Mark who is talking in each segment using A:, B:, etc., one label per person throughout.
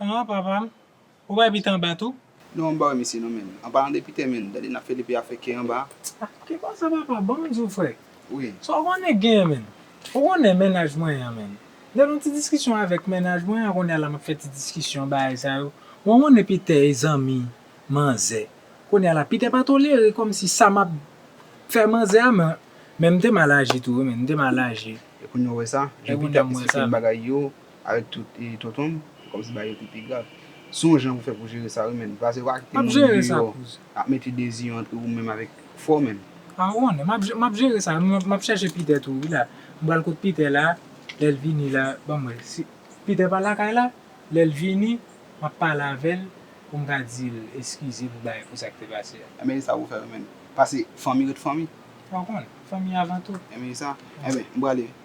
A: Aah papa
B: m Ou bay beat anba tou? Nou anba wi mesye
A: nou menm anba nan depi tèmen gade nap fè depi afè kè anba. Ah ki konsa
B: papa banm diw frè wi. Sa w
A: konnen gen
B: menn. Ou konnen mennaj mwen an menn. Lè nou ti diskisyon avèk mennaj mwen an kounye a la map fè ti diskisyon bagay sa yo. Mwen konnen Peter e zanmi manzè. Kounye a la Peter pa tolere kòmsi sa map fè manzè a men men m te mal aji tou wi menn m te mal aji. E kounye w wè sa?
A: Jan Peter ap esplike m bagay yo. Avèk tout e tonton m. Kòm si bagay yo te pi grav. Son jan pou fè pou jere sa wi menn. Pase pa kite moun deyò
B: ap mete dezi yo
A: antre ou menm avèk fò menn. A ou konnen.
B: M ap jere sa. M ap chèche Peter tou wi la. M pral kot Peter la. Lè l vini la. Ban m wè. Si Peter pa lakay la. Lè l vini. M ap pale avè l. Pou m ka di l eskize pou bagay pou sa k te pase a. Enben e sa pou fè wi menn.
A: Pase fanmi ret fanmi. A ou konnen. Fanmi
B: avan tou. Enben e sa. Enben
A: m prale.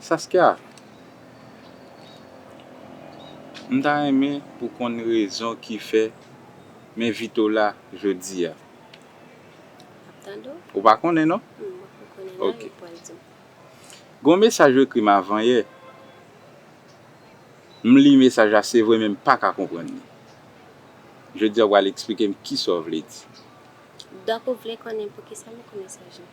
C: Saskia,
D: m ta renmen pou konn rezon ki fè m envite w la jodi a. Map tande
E: w. Ou pa konnen non? M
D: poko konnen nan, epi
E: w al di m.
D: Gen yon mesaj ou ekri m avan yè. M li mesaj la se vre men m paka konprann li. Jodi a w pral esplike m kisa w vle di. Doc ou
E: vle konnen poukisa m ekri mesaj lan?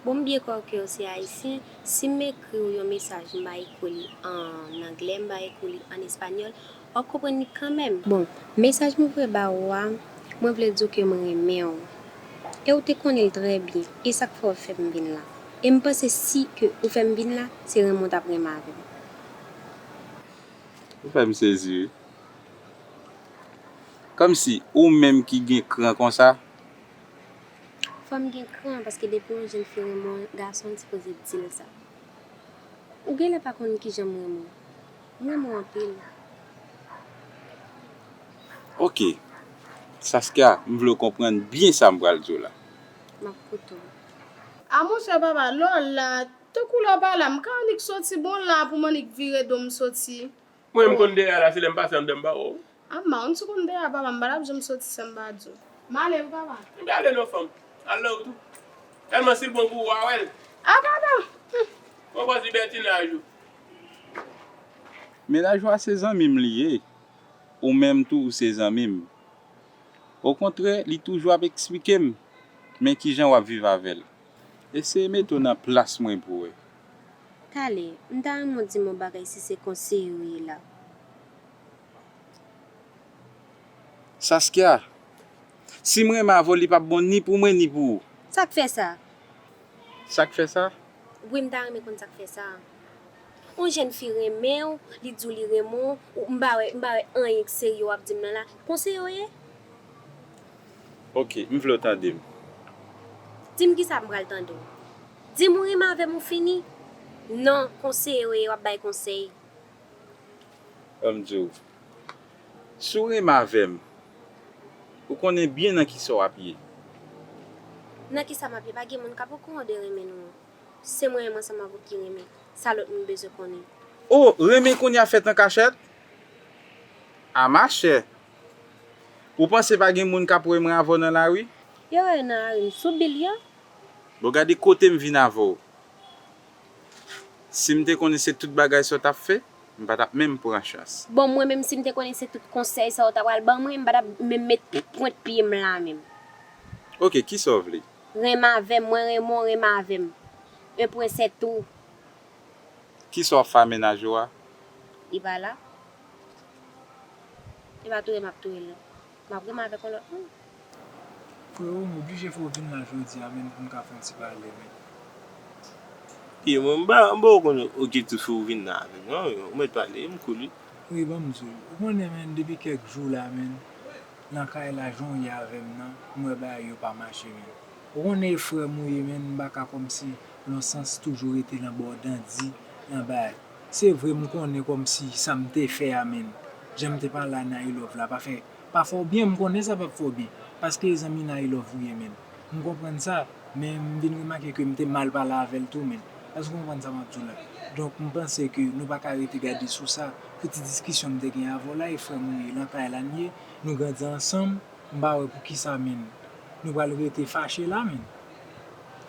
E: Bon m byen kwè w ke w se Ayisyen, si m ekri w yon mesaj m ba ekri w li an anglè, m ba ekri w li an espanyòl, w ap konprann li kanmèm. Bon, mesaj mwen voye ba ou a, mwen vle di w ke m renmen w, e w te konnen l trè byen, e sa k fè w fè m vin la. E m panse si ke ou fè m vin la, se renmen w t ap renmen avè m.
D: Ou fè m sezi wi. Komsi ou menm ki gen kran konsa.
E: Fanm gen kran paske depi yon jèn fi renmen yon gason li sipoze dil sa. Ou genlè pa konn kijanm renmen w. M renmen w anpil.
D: Ok Saskia m vle w konprann byen sa m pral di w la. Map koute
E: w. A
F: monchè papa lè w la tankou lè w pa la m ka annik soti bon la pou m annik vire do m soti. Mwen m
C: konn dera la se lè m pase anndan m ba w ou. Ap man m sou
F: konn dera papa m pa tap janm soti san m pa di w. M ale wi papa. M pa ale non fanm. Al nan
C: ou tou. Tèlman si l bon pou ou wa wè l. A papa! Humm.
F: Mwen pran ti
C: bètinaj ou.
D: Mennaj ou a se zanmi m li ye. Ou menm tou ou se zanmi m. Okontrè li toujou ap eksplike m men kijan w ap viv avè l. Eseye mete w nan plas mwen pou wè. Tale,
E: m ta renmen w di m yon bagay si se konseye ou ye la.
D: Saskia, Si m renmen avè w li p ap bon ni pou mwen ni pou ou. Sa k fè sa?
E: Sa
D: k fè sa? Wi m ta renmen
E: konn sa k fè sa. Yon jèn fi renmen w, li di w li renmen w, ou, m pa wè, m pa wè anyen k serye w ap di m nan la. Konseye w ye?
D: Ok, m vle w tande m.
E: Di m kisa m pral tande w. Di m ou renmen avè m ou fini. Non, konseye w e w ap bay konsèy. Ban m
D: di w. Si w renmen avè m, ou konnen byen nan kisa w ap ye.
E: Nan kisa m ap ye? Pa gen moun k ap okouran de renmen nou an. Se mwen menm ansanm avè w ki renmen. Sa lòt moun bezwen konnen. O! Renmen
D: kounya fèt an kachèt? A machè, Ou panse pa gen moun kap wèm avèw nan lari? Yo wèw nan lari m
E: sou bil
D: yo. Bon gade
E: kotem
D: vin avèw. Sim te konnen se tout bagay sa w tap fè, m pa tap menm pran chans. Bon mwen menm sim te konnen
E: se tout konsèy sa w ta pral ban mwen, m pa tap menm met pwent pyem la menm. Ok
D: kisa w vle? Renmn avèm, mwen
E: renmen w renmn avèm. Un pwen sè tou.
D: Kisa wap fè a mennaj ou a? Li pa la.
E: E pa touyem ap touyel non. Map renmen avek
B: yon lot moun. Freo m oblije fè w vin la jodi a menn pou m ka fè yon ti pale menn.
C: Wi mwen m pa w konn okipte fè w vin la avek m non ou met pale m cool wi. Wi ban m di w. Ou
B: konnen menn depi kek jou la menn lan kay la jan w ye avè m nan m wè bagay yo pa mache menn. Ou konnen e frè m ou ye menn m pa ka komsi lonsans toujou rete lan ba w dandi lan bagay. Se vre m konnen kòmsi sa m te fè a menn jan m te pale a Nailove la pa fè pa fè w byen m konnen sa pap fè w byen paske e zanmi Nailove ou ye menn m konprann sa men m vin remake ke m te mal pale avè l tou menn èske w konprann sa m ap di w la donk m panse ke nou pa ka rete gade sou sa pou ti diskisyon m te gen avè w la e frè m ou ye lan kay la n ye nou grandi ansanm m pa wè poukisa menn nou pral rete fache la menn.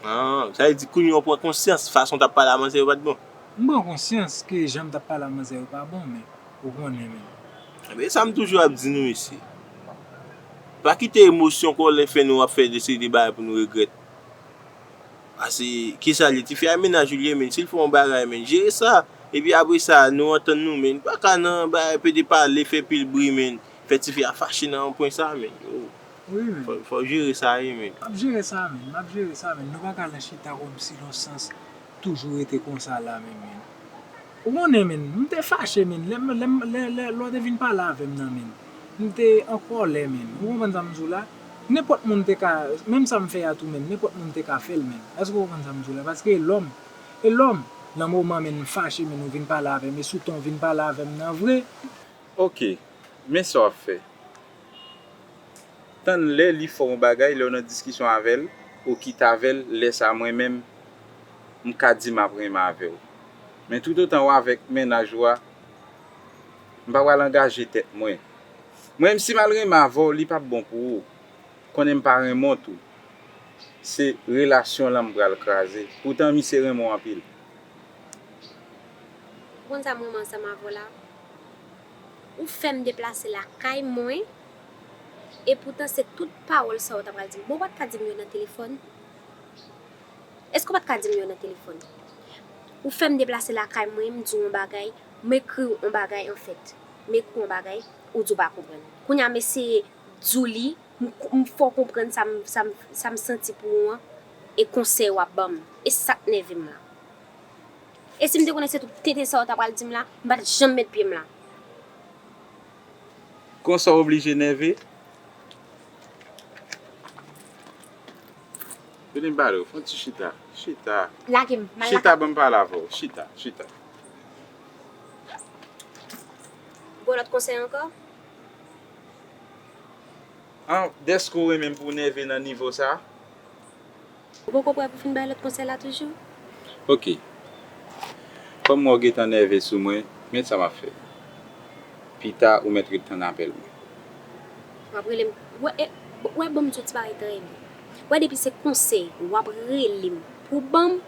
B: An,
C: sa vle di kounye w pran konsyans fason w t ap pale avan se yo pat bon? M pran konsyans
B: ke jan m tap pale a manzè yo pa bon men ou konnen men. Ebyen sa m toujou ap
C: di nou isi. Pa kite emosyon kòlè fè nou ap fè de seri de bagay pou nou regrèt. Pase kisa li tifi a e mennaj ou li ye menn si l fè yon bagay menn jere sa epi apre sa nou antann nou menn pa ka nan bagay pede pale fè pil bri menn fè tifi a fache nan yon pwen sa menn
B: oh fò w jere sa wi
C: menn. M ap jere sa menn
B: m ap jere sa menn nou pa ka nan chita kòmsi lonsans. Toujou rete konsa la menm menn. Ou konnen menn, m te fache menn, lè m, lè m, lè, lè, lè w te vin pale avè m nan menn. M te an kòlè menn. Ou konprann sa m di w la? Nenpòt moun te ka, menm sa m fè a tou menn, nenpòt moun te ka fè l menn. Èske ou konprann sa m di w la? Paske e lòm. E lòm. Nan moman menn m fache menn ou vin pale avè m e sou ton w vin pale avè m nan vre. Ok.
D: Men sa w ap fè. tann lè li fè w yon bagay lè w nan diskisyon avè l ou kite avè l lè sa mwen menm m ka di m ap renmen avè w men toutotan w avèk mennaj ou a m pa pral angaje tèt mwen mwen menm si m al renmen avè w li pap bon pou ou konnen m pa renmen w tou se relasyon lan m pral kraze poutan misye renmen w anpil. Ou
E: konn sa m renmen ansanm avè w la. Ou fè m deplase lakay mwen, epoutan se tout pawòl sa a ou t apral di m. Bon, ou pa t ka di m yo nan telefòn? Èske ou pa t ka di m yo nan telefòn? Ou fè m deplase lakay mwen, m di w yon bagay, m ekri w yon bagay anfèt. M ekri w yon bagay, ou di w pa konprann. Kounye a m eseye di w li, m fè w konprann sa m santi pou ou an, e konsèy w ap ban m. E sa k nève m lan. E si m te konnen se tout tenten sa ou ta pral di m la, m pa t janm met pye m la.
D: Konsa w oblije nève? Vini m pale w. Fè yon ti chita. Chita. Lage m. M al lakay. Chita
E: ban m pale avè w.
D: Chita. Chita. Ou gen
E: yon lòt konsèy ankò?
D: An, dèske w renmen m pou w nève nan nivo sa?
E: Ou poko prè pou fin bay lòt konsèy la toujou? Ok.
D: Kòm m wè w gentan nève sou mwen, men sa m ap fè. Pita ou mèt ret tann apèl mwen. W ap rele m? W
E: wè ban m di w ti bagay trè byen. W wè depi se konsèy w ap rele m pou w ban m,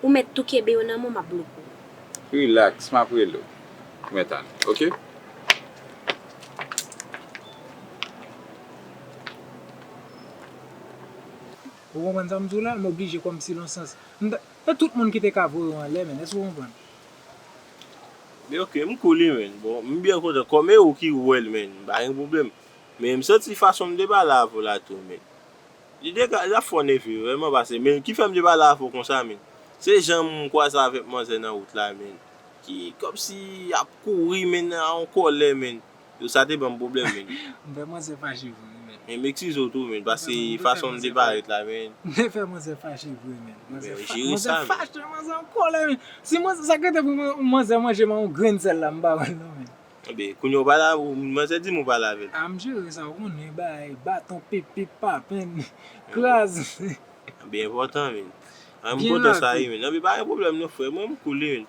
E: ou mèt tou kenbe yo nan men w m ap bloke w. Rilaks, m
D: ap rele w pou mèt ale, ok?
B: Ou konprann sa m di w la? M oblije kòmsi lon sans. M ta Se tout moun ki te ka voye w anlè menn. Èske ou konprann?
C: Men ok, m kou li menn. Bon, m byen kontan. Kòm e ou ki wè l menn, m pa gen pwoblèm. Men m santi fason m te pale avè w la tou menn. Li te ka Li t ap fè w nève vrèman pase men ki fè m te pale avè w konsa menn. Se jan m kwaze avèk manzè nan wout la menn. Ki kòmsi ap kouri menn an kòlè menn. Yo sa te banm pwoblèm men. M fè manzè fache
B: vre men. Men m eksize w tou men
C: paske fason m te parèt la men. M te fè manzè fache
B: vre men. Manzè fache manzè an kòlè men. Si manzè sa k rete pou manzè manje man yon grenn sèl la m pa wè l non men. Ebyen kounye w pale
C: avè l manzè di m ou pale avè l. A m jere sa w konnen
B: bay baton pip pip papenn kraz. Ebyen
C: enpòtan men. An m kontan sa wi men. Ebyen pa gen pwoblèm non frè mwen m koul wi men.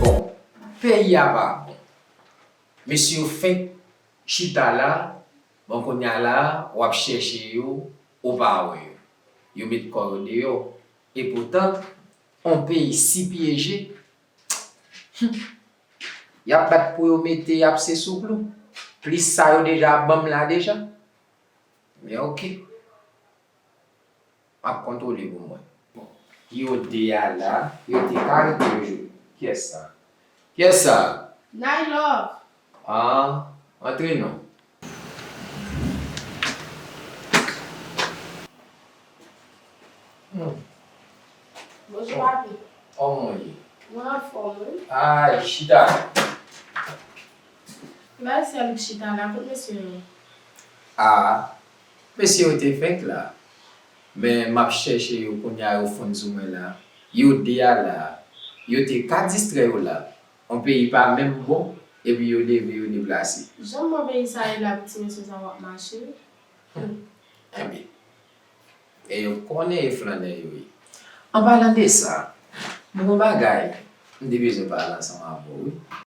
G: Bon peyi a pa bon. Mesye yo fenk chita la bon kounya la wap chèche yo ou pa wè yo. Yo met kò yo deyò. E poutan on peyi si pyeje Humm yap bat pou yo mete yap se sou klou. Plis sa yo deja banm la deja. Men ok. Map kontrole pou mwen. Bon. Yo 2 a la. Yo te ka rete toujou. Kyes sa? Kyes sa? Nay love.
F: Ahh.
G: Antre non.
F: Hum. Bonjou papi. Kòman w ye?
G: Mwen anfòm wi.
F: Ahh. Chita. Bay sèl chita la. Kot mesye yo? Ah
G: mesye yo te fenk la men map chèche yo kounya yo fon sou mwen la yo 2 a la yo te ka distrè yo la on peyi pa menm bon epi yo leve yo deplase. Jan bon peyi sa
F: ye la ti mesye sa wap mache humm
G: enbyen e yo konnen e flannè yo ye. An palan de sa, m gon bagay m te bezwen pale ansanm avè w wi.